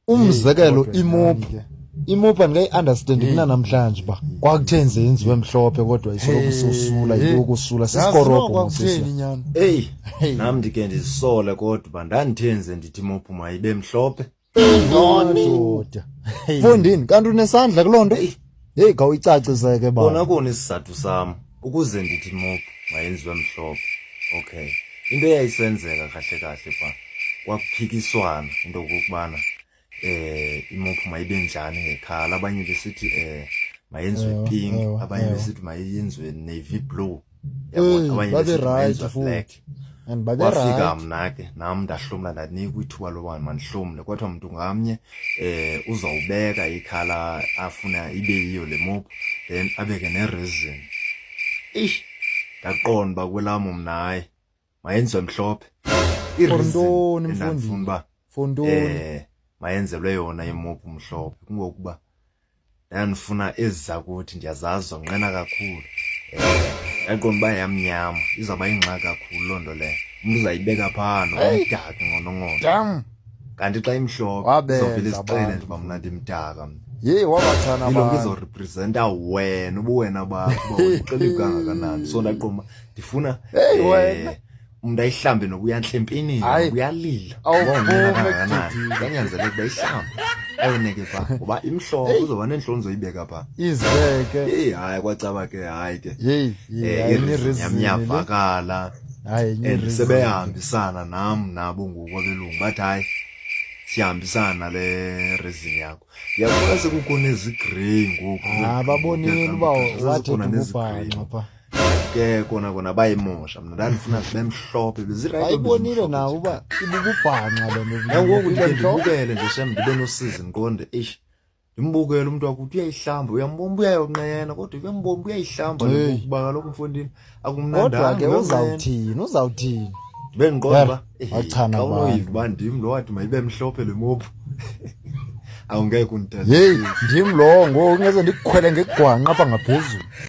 umzekelo imopu imopu andikayi-andastandi kunanamhlanje uba kwakuthe nje yenziwe mhlophe kodwa isoloko isosula iyokusula sisikorobhoeyi nam ndike ndizisole kodwa uba ndandithe nje ndithi imopu mayibe mhlophe ndoda fondini kanti unesandla kuloo nto Heyi khawuyicacise ke baba. Kona kona isizathu sam ukuze ndithi mop mayenziwe mhlophe. Okay. Into eyayisenzeka kahle kahle pha kwakuphikiswana into yokubana eh imop mayibe njani ngekhala abanye besithi eh mayenziwe pink abanye besithi mayenziwe navy blue babe right futhi and babe right wafika mna ke nam ndahlomla ndanika ithuba loba mandihlomle kodwa mntu ngamnye eh uzawubeka ikhala afuna ibe yiyo le mop then abeke ne reason eish ndaqonda uba kwelam mnaye mayenziwe mhlophe ireason endandifuna uba fontoni eh mayenzelwe yona imopu mhlophe kungokuba ndandifuna ezi zakuthi ndiyazazi zonqena kakhulu eh yaqonda uba yamnyama izawuba yingxaki kakhulu loo nto leyo umntu uzayibeka phaa nomdaka ngonongono dam kanti xa imhlophe izovele izixele nje uba mna ndimdaka mna yeyi wabathana abantu izorepresenta wena ubuwena bakho uba uxelibkangakanani so ndaqoma ndifuna hey, wena umntu ayihlambe nokuya ntlempini uyalila yanyanzeleka uba ihlambe ayoneke pha ngoba imhlophe uzoba neentloni zoyibeka pha izibeke eyi hayi kwacaba ke hayi ke yamyavakala and sebehambisana nam nabo ngoku abelungu bathi hayi siyahambisana le rezini yakho Yabase kukho nezigrey ngoku. Ah babonile uba wathi ububhanqa pha. Ke kona kona bayimosha mna ndandifuna zibe mhlophe bezirayi. Ayibonile na uba ibububhanqa le nto. Yangoku nje ndibukele nje shem ndibe nosizi ngiqonde eish. Ndimbukele umuntu wakuthi uyayihlamba uyambomba uyayonqena kodwa uyambomba uyayihlamba ngokuba kaloku mfondini. Hey. akumnandanga ke uzawuthini uzawuthini bendiqonda uba eh, xa unoyiva uba ndim lo wathi mayibe mhlophe le mophu awungeke undithathe yeyi ndim lowo ngoku ingeze ndikukhwele ngegwanqa apha ngaphezulu